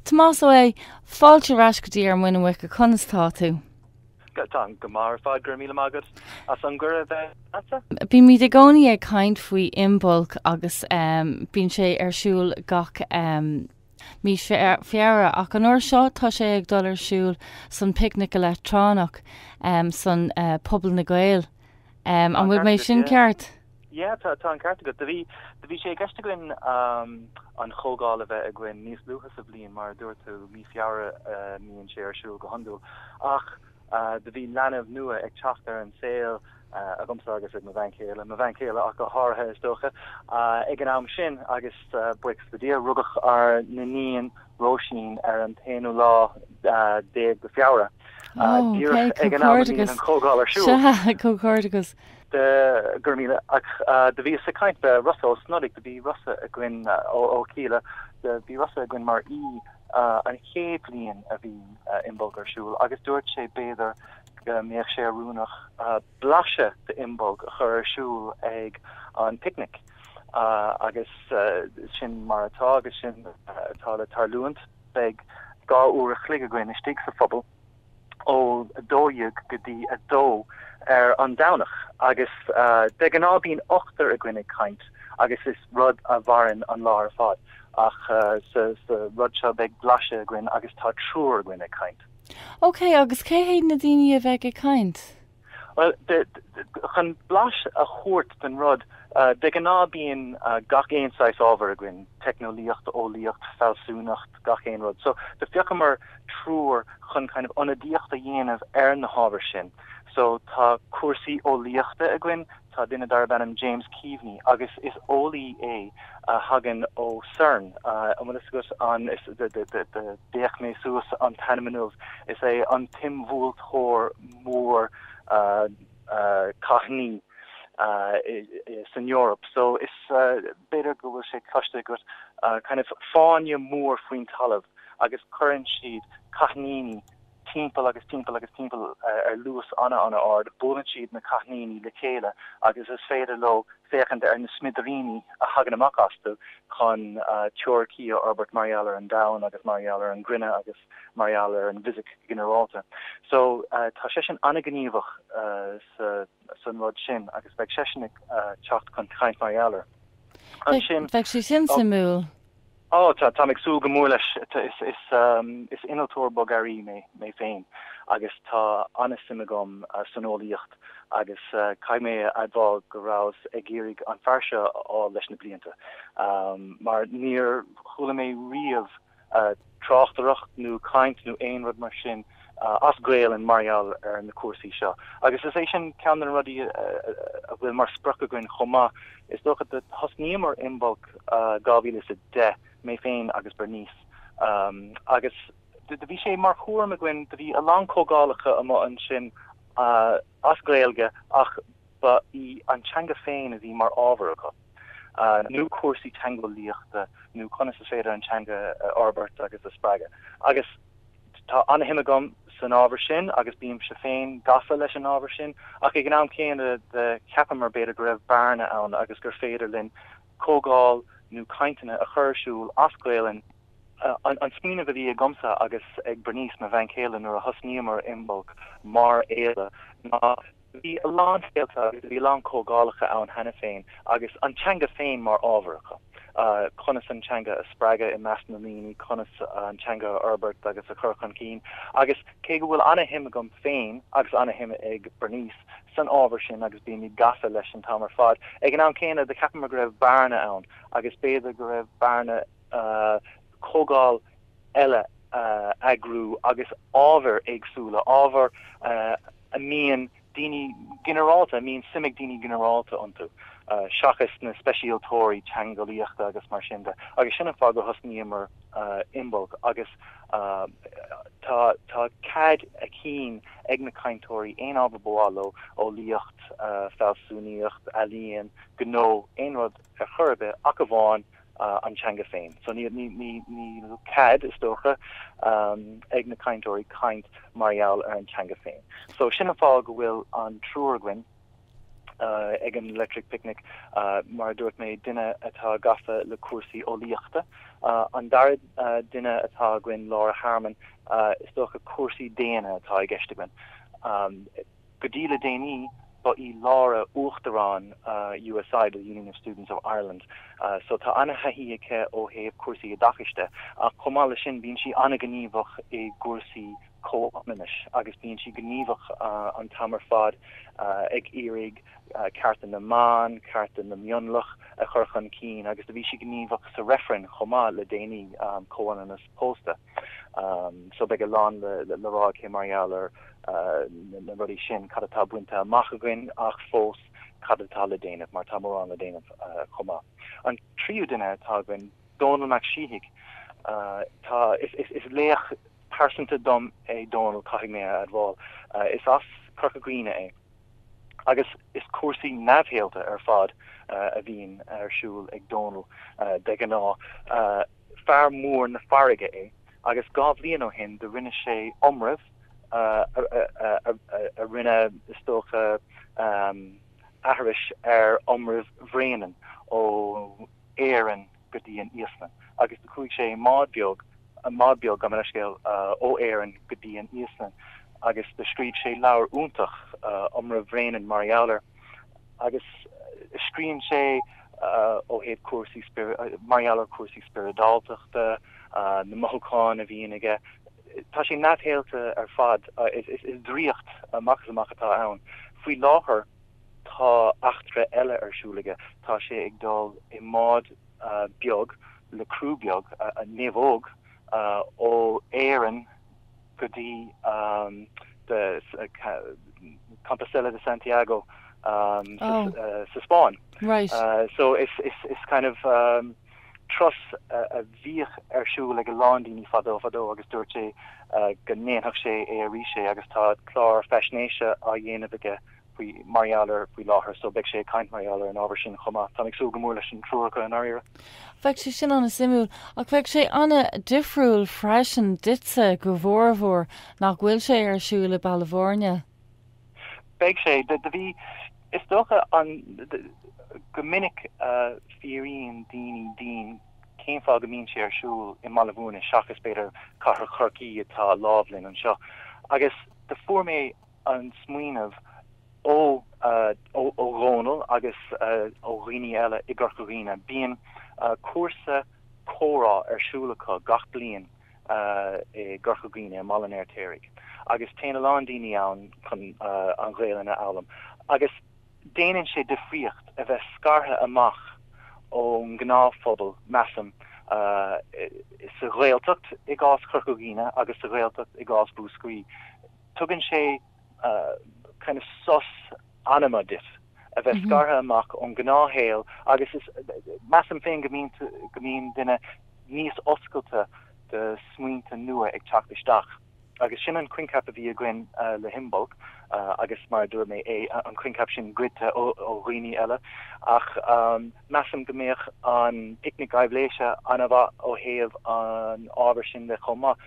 Tomás, Ó eh, fáilte ar ais go dtí Ar Mhuin na Muice, conas tá tú? Tá, táim go maith ar fad, go raibh míle maith agat as an gcuireadh a bheith leatsa. Bímid i gcónaí ag caint faoi Imbolc agus em bíonn sé ar siúl gach em mí Feabhra ach an uair seo tá sé ag dul ar siúl san Picnic Leictreonach em san eh Puball na nGael em an bhfuil mé sin ceart? Yeah, tá, tá an ceart agat. Do bhí, do bhí sé i gceist againn an chomhdháil a bheith againn níos luaithe sa bhliain, mar a dúirt tú, mí Feabhra a mbíonn sé ar siúl go hiondúil, ach do bhí leanbh nua ag teacht ar an saol, agamsa agus ag mo bhean chéile, mo bhean chéile ach go háirithe is dócha, ag an am sin agus buíochas le Dia, rugadh ár n-iníon Róisín ar an t-aonú lá déag de Fheabhra, díreach ag an am a mbíonn an chomhdháil ar siúl. Comhghairdeachas! de, go raibh míle agat do bhíos ag caint le Rossa Ó Snodaigh do bhí Rossa againn ó Kíla do bhí Rossa againn mar í an chéad bhliain a bhí Imbolc ar siúl agus dúirt sé b'fhéidir go mbeadh sé oiriúnach blaiseadh d'Imbolc a chur ar siúl ag an picnic agus sin mar atá agus sin atá le tarlúint beidh dhá uair a chloig againn istigh sa phuball ó a dó dhéag go dtí a dó ar an Domhnach agus de ghnáth bíonn ochtar againn ag caint agus is rud a mhaireann an lá ar fad ach sa rud seo beidh blaiseadh againn agus tá triúr againn ag caint. OK, agus cé hiad na daoine a bheidh ag caint? Bhuel, chun blas a thabhairt den rud, de ghnáth bíonn gach aon saghas ábhair againn, teicneolaíocht, eolaíocht, fealsúnacht, gach aon rud. So, do phiocamar triúr chun kind of ionadaíocht a dhéanamh ar na hábhair sin. So, tá cúrsaí eolaíochta againn, Tá duine darb ainm James Keaveney, agus is eolaí é a thagann ó CERN, an bhfuil fhios agat an, d'fhéach mé suas an t-ainm inniu, is é an t-imbhuailteoir mór cáithníní san Eoraip, so is, b'fhéidir go bhfuil sé cloiste agat, kind of fáinne mór faoin talamh agus cuireann siad cáithníní Timpeall agus timpeall agus timpeall ar luas an-an-ard buaileann siad na cáithníní le chéile agus is féidir leo féachaint ar na smidiríní a thagann amach astu chun teoiricí a fhorbairt mar gheall ar an domhan agus mar gheall ar an gcruinne agus mar gheall ar an bhfisic ghinearálta. So, tá seisean an-ghníomhach san rud sin agus beidh seisean ag teacht chun caint mar gheall air. Ansin. Bheadh sé sin suimiúil. Ó, tá, táim ag súil go mór leis. Is innealtóir bogearraí mé féin agus tá an-suim agam san eolaíocht agus caithfidh mé a admháil go rabhas ag iarraidh an fear seo a fháil leis na blianta mar níor chuala mé riamh a tráchtaireacht nó caint nó aon rud mar sin as Gaelainn mar gheall ar na cúrsaí seo agus is é sin ceann de na rudaí a bhfuil mar sprioc againn chomh maith. Is dócha do thosnaíomar Imbolc 2010, mé féin agus Bernice, agus do bhí sé mar chúram againn, do bhí a lán comhdhálacha amuigh ansin, as Gaeilge ach ba í an teanga féin a bhí mar ábhar acu, nó cúrsaí teangeolaíochta nó conas is féidir an teanga a fhorbairt agus a spreagadh. Agus tá ana-shuim agam san ábhar sin agus bímse féin gafa leis an ábhar sin ach ag an am céanna do cheapamar b'fhéidir go raibh bearna ann agus gur féidir linn comhdháil nó cainteanna a chur ar siúl as Gaelainn An smaoineamh a bhí agamsa agus ag Bernice, mo bhean chéile, nuair a thosnaíomar Imbolc mar fhéile ná bhí a lán féilte agus bhí a lán comhdhálacha ann cheana féin agus an teanga féin mar ábhar acu. Conas an teanga a spreagadh i measc na ndaoine, conas an teanga a fhorbairt agus a chur chun cinn agus cé go bhfuil an-shuim agam féin agus an-shuim ag Bernice san ábhar sin agus bímid gafa leis an t-am ar fad, ag an am céanna do cheapamar go raibh bearna ann agus b'fhéidir go raibh bearna comhdháil eile a eagrú agus ábhair éagsúla, ábhair a mbíonn daoine ginearálta, a mbíonn suim ag daoine ginearálta iontu, seachas na speisialtóirí teangeolaíochta agus mar sin de. Agus sin an fáth gur thosnaíomar Imbolc agus tá, tá cead a chinn ag na cainteoirí aon ábhar ba mhaith leo, eolaíocht, fealsúnaíocht, ealaíon, gnó, aon rud. ar chor ar bith, ach amháin an teanga féin. So níl cead, is dócha, ag na cainteoirí caint mar gheall ar an teanga féin. So sin an fáth go bhfuil an triúr againn ag an Electric Picnic, mar a dúirt mé, duine atá gafa le cúrsaí eolaíochta, an dara duine atá againn, Laura Harmon, is dócha cúrsaí daonna atá i gceist againn, Go dtí le déanaí, ba í Laura uachtarán USI, The Union of Students of Ireland, so tá an-thaithí aici ó thaobh cúrsaí oideachais de, ach chomh maith leis sin, bíonn sí an-ghníomhach i gcúrsaí comhionannais agus bíonn sí gníomhach an t-am ar fad ag iarraidh cearta na mban, cearta na mionlach a chur chun cinn agus do bhí sí gníomhach sa reifreann chomh maith le déanaí, comhionannas pósta. So beidh a lán le rá aici mar gheall ar na rudaí sin, cad atá bainte amach againn ach fós cad atá le déanamh mar tá mórán le déanamh chomh maith. An tríú duine atá againn, Dónall Mac Síthigh. Tá, is laoch pearsanta dom é Dónall, caithfidh mé a admháil. Is as Corca Dhuibhne é agus is cúrsaí neamhshaolta ar fad a bhíonn ar siúl ag Dónall de ghnáth. fear mór na farraige é agus dhá bhliain ó shin do rinne sé iomramh a rinne, is dócha, aithris ar iomramh Bhréanainn ó Éirinn go dtí an Íoslainn agus do chuaigh sé i mbád beag, bád beag, gabh mo leithscéal, ó Éirinn go dtí an Íoslainn agus do scrígh sé leabhar iontach, Iomramh Bhréanainn, mar gheall air. agus scríobhann sé ó thaobh cúrsaí, mar gheall ar chúrsaí spioradáltachta, na mothúcháin a bhíonn aige, tá sé neamhshaolta ar fad, is draíocht amach is amach atá ann. Faoi láthair tá eachtra eile ar siúl aige, tá sé ag dul i mbád beag le criú beag, naomhóg ó Éirinn, go dtí an Compostela de Santiago sa Spáinn. So it's kind of turas a bhíodh ar siúl ag a lán daoine fadó fadó agus dúirt sé go ndéanfadh sé é arís é agus tá clár faisnéise á dhéanamh aige faoi mar gheall air faoi láthair so beidh sé ag caint mar gheall ar an ábhar sin chomh maith. Táim ag súil go mór leis an triúr acu i ndáiríre. Beidh sé sin an-suimiúil. Ach beidh sé an-difriúil freisin duitse go mhórmhór nach bhfuil sé ar siúl i Baile Bhúirne. Beidh sé. Do bhí, is dócha, an, go minic fiafraíonn daoine díom cén fáth go mbíonn sé ar siúl i mBaile Bhúirne seachas b'fhéidir cathair Chorcaí atá lámh linn anseo agus do fuair mé an smaoineamh ó Dhónall agus ó dhaoine eile i gCorca Dhuibhne, bíonn cúrsa comhrá ar siúl acu gach bliain i gCorca Dhuibhne, i mBaile an Fheirtéaraigh, agus téann a lán daoine ann chun an Ghaelainn a fhoghlaim agus déanann sé difríocht a bheith scartha amach ón ngnáthphobal, measaim, sa Ghaeltacht i gcás Chorca Dhuibhne agus sa Ghaeltacht i gcás Mhúscraí. Tugann sé kind of sos anama duit a bheith scartha amach ón ngnáthshaol agus measaim féin go mbíonn duine níos oscailte do smaointe nua ag teacht isteach agus sin an coincheap a bhí againn le hImbolc agus mar a dúirt mé an coincheap sin goidte ó dhaoine eile ach measaim go mbeadh an Picnic Aibhléise an-mhaith ó thaobh an ábhair sin de chomh maith.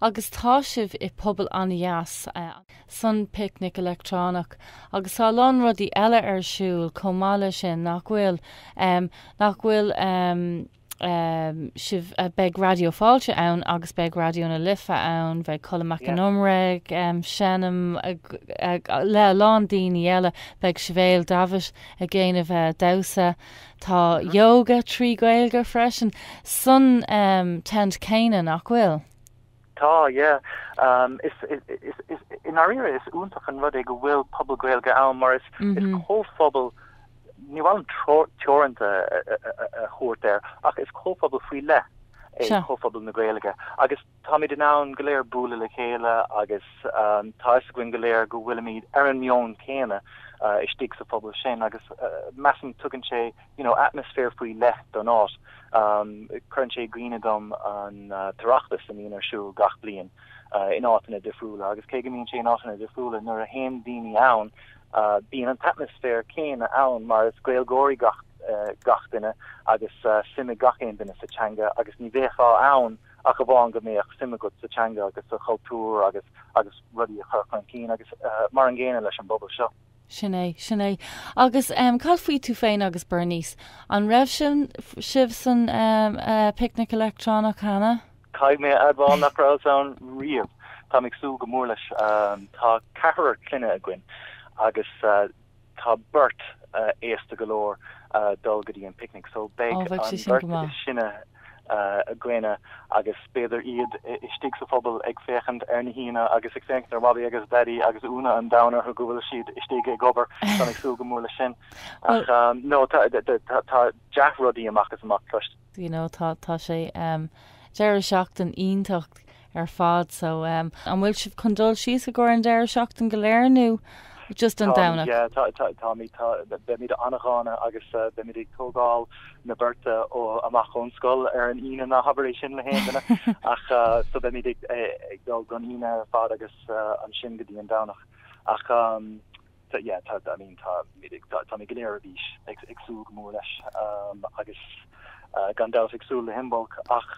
Agus tá sibh i puball an-dheas, san Picnic Leictreonach, agus tá a lán rudaí eile ar siúl chomh maith le sin, nach bhfuil? Nach bhfuil sibh, beidh Raidió Fáilte ann agus beidh Raidió na Life ann, beidh Colm Mac an Iomaire ag seinm le a lán daoine eile, beidh Sibéal Davitt ag déanamh damhsa, Tá yoga trí Ghaeilge freisin san Tent céanna, nach bhfuil? Tá, yeah. I ndáiríre, is iontach an rud é go bhfuil Puball Gaeilge ann mar is comhphobal, ní bhfuilim teoranta a thabhairt air, ach is comhphobal faoi leith é comhphobal na Gaeilge agus, Táimid in ann go léir bualadh le chéile agus tá a fhios againn go léir go bhfuilimid ar an meon céanna istigh sa phuball sin agus measaim tugann sé you know atmaisféar faoi leith don áit. Cuireann sé i gcuimhne dom an tOireachtas a mbíonn ar siúl gach bliain in áiteanna difriúla agus cé go mbíonn sé in áiteanna difriúla nuair a théann daoine ann bíonn an t-atmaisféar céanna ann mar is Gaeilgeoirí gach duine agus suim ag gach aon duine sa teanga agus ní bheifeá ann ach amháin go mbeadh suim agat sa teanga agus sa chultúr agus agus rudaí a chur chun cinn agus mar an gcéanna leis an bpuball seo. Sin é, sin é. Agus ehm, cad faoi tú féin agus Bernice? An raibh sin sibh san ehm eh picnic leictreonach cheana? Caithfidh mé a admháil nach rabhas ann riamh, táim ag súil go mór leis. Tá ceathrar clainne againn agus eh, tá beirt aosta go leor dul go dtí an picnic so beidh an bheirt is sine againne ann agus b'fhéidir iad istigh sa phuball ag féachaint ar na haíonna agus ag féachaint ar Mhamaí agus Daidí agus ionadh an domhain orthu go bhfuil siad istigh ag obair ann, ag súil go mór leis sin ach no tá dea-rudaí amach is amach cloiste you know tá tá sé um deireadh seachtain iontach ar fad so um an bhfuil sibh chun dul síos i gcomhair an deireadh seachtain go léir nó just an Domhnach? Táimid, yeah, tá tá táimid tá beimid an-dána agus uh beimid ag tógáil na beirte ó amach ón scoil ar an Aoine ná habair é sin le haon duine ach uh so beimid ag eh ag dul don Aoine ar fad agus uh ansin go dtí an Domhnach ach um So yeah, tá, I mean, tá, táimid go léir ar bís, ag súil go mór leis agus gan dabht ag súil le hImbolc ach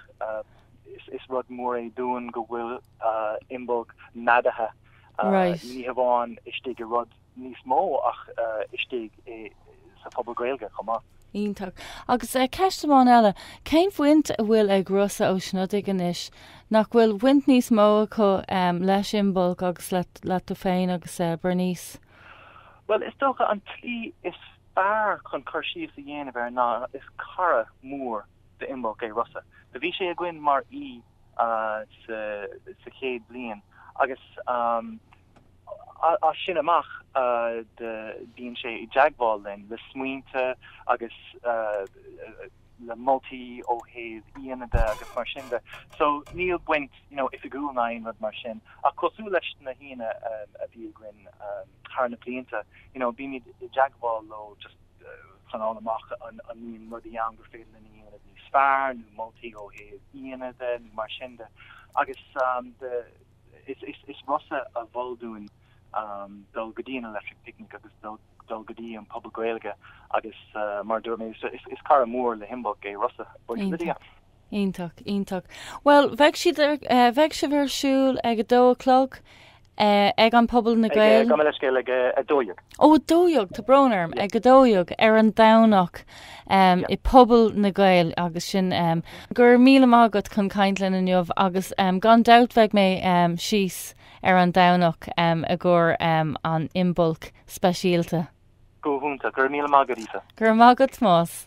is rud mór é dúinn go bhfuil Imbolc neadaithe ní hamháin istigh i rud níos mó ach istigh sa Phuball Gaeilge chomh maith. Iontach. Agus ceist amháin eile, cén bhaint a bhfuil ag Rossa Ó Snodaigh anois? Nach bhfuil baint níos mó acu leis Imbolc agus leat tú féin agus Bernice? Bhuel, is dócha an tslí is fearr chun cur síos a dhéanamh air ná is cara mór d'Imbolc é Rossa. Do bhí sé againn mar aoi sa chéad bhliain agus. As sin amach bíonn sé i dteagmháil linn, le smaointe agus le moltaí ó thaobh aíonna de agus mar sin de. So níl baint oifigiúil ná aon rud mar sin, ach cosúil leis na haíonna a bhí againn thar na blianta, bímid i dteagmháil leo just chun a fháil amach an mbíonn rudaí ann gur féidir linn a dhéanamh níos fearr, nó moltaí ó thaobh aíonna de nó mar sin de. Agus. Is Rossa a mhol dúinn dul go dtí an Electric Picnic agus dul go dtí an Puball Gaeilge agus mar a dúirt mé, is cara mór le hImbolc é Rossa, iontach, iontach. Bhuel, beidh, beidh sibh ar siúl ag a dó a chlog ag an Puball na Gaeilge? Gabh mo leithscéal, ag a dó dhéag. Ó a dó dhéag, ta brón orm, ag a dó dhéag ar an Domhnach i Puball na Gaeilge agus sin go raibh míle maith agat chun caint linne inniu agus gan dabht bheidh mé síos ar an Domhnach i gcomhair an Imbolc speisialta. Go hiontach. Go raibh míle maith agat, Aoife. Go raibh maith agat, Tomás.